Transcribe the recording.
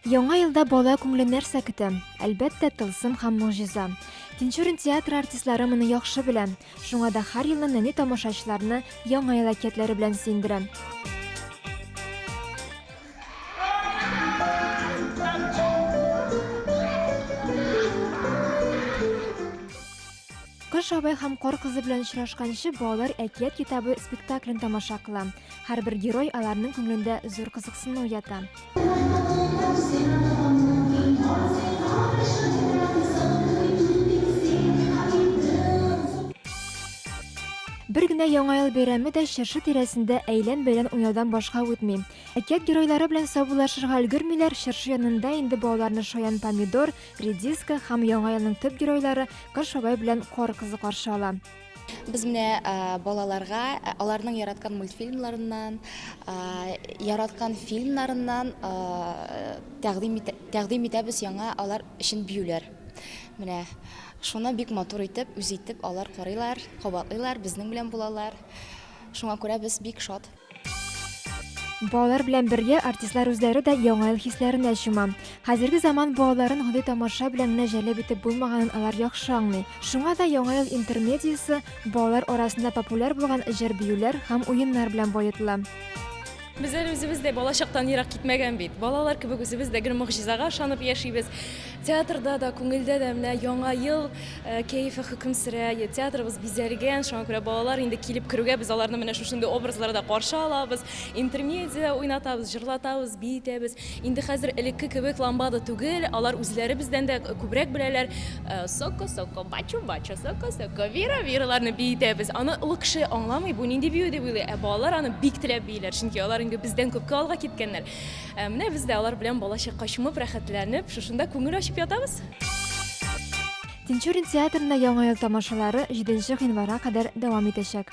Яңа елда бала күңеле нәрсә көтә? Әлбәттә, тылсым һәм могҗиза. Тинчурин театры артистлары моны яхшы белә. Шуңа да һәр елны нәни тамашачыларны яңа ел әкиятләре белән сөендерә. Кыш абай һәм кар кызы белән очрашканчы балалар әкият китабы спектаклен тамаша кыла. Һәрбер герой аларның күңелендә зур кызыксыну уята. Бер генә яңа ел бәйрәме дә чыршы тирәсендә әйлән-бәйлән уйнаудан башка үтми. Әкият геройлары белән саубуллашырга өлгермиләр, чыршы янында инде балаларны шаян помидор, редиска һәм яңа елның төп геройлары Кыш бабай белән Кар кызы каршы ала. Без менә балаларга аларның яраткан мультфильмнарыннан, яраткан фильмнарыннан тәкъдим итәбез яңа алар өчен биюләр. Менә шуны бик матур итеп, үз итеп алар карыйлар, кабатлыйлар, безнең белән булалар. Шуңа күрә без бик шат. Балалар белән бергә артистлар үзләре дә яңа ел хисләренә чума. Хәзерге заман балаларын гади тамаша белән генә җәлеп итеп булмаганын алар яхшы аңлый. Шуңа да яңа ел интермедиясе балалар арасында популяр булган җыр-биюләр һәм уеннар белән баетыла. Без әле үзебез дә балачактан ерак китмәгән бит. Балалар кебек үзебез дә гел могҗизага ышанып яшибез. Театрда да, күңелдә дә менә Яңа ел кәефе хөкем сөрә. Театрыбыз бизәлгән, шуңа күрә балалар инде килеп керүгә, без аларны менә шушындый образларда каршы алабыз. Интермедиа уйнатабыз, җырлатабыз, биетәбез. Инде хәзер элекке кебек ламбада түгел, алар үзләре бездән дә күбрәк беләләр. Соко-соко, бачу-бачу, соко-соко, вира-вираларны биетәбез. Аны олы кеше аңламый, бу нинди бию дип уйлый, ә балалар аны бик теләп бииләр, чөнки алар инде бездән күпкә алга киткәннәр. Ә менә без дә алар белән балачак качымып, рәхәтләнеп, шушында күңел ачып ятабыз. Тинчурин театрында Яңа ел тамашалары җиденче гыйнварга кадәр дәвам итәчәк.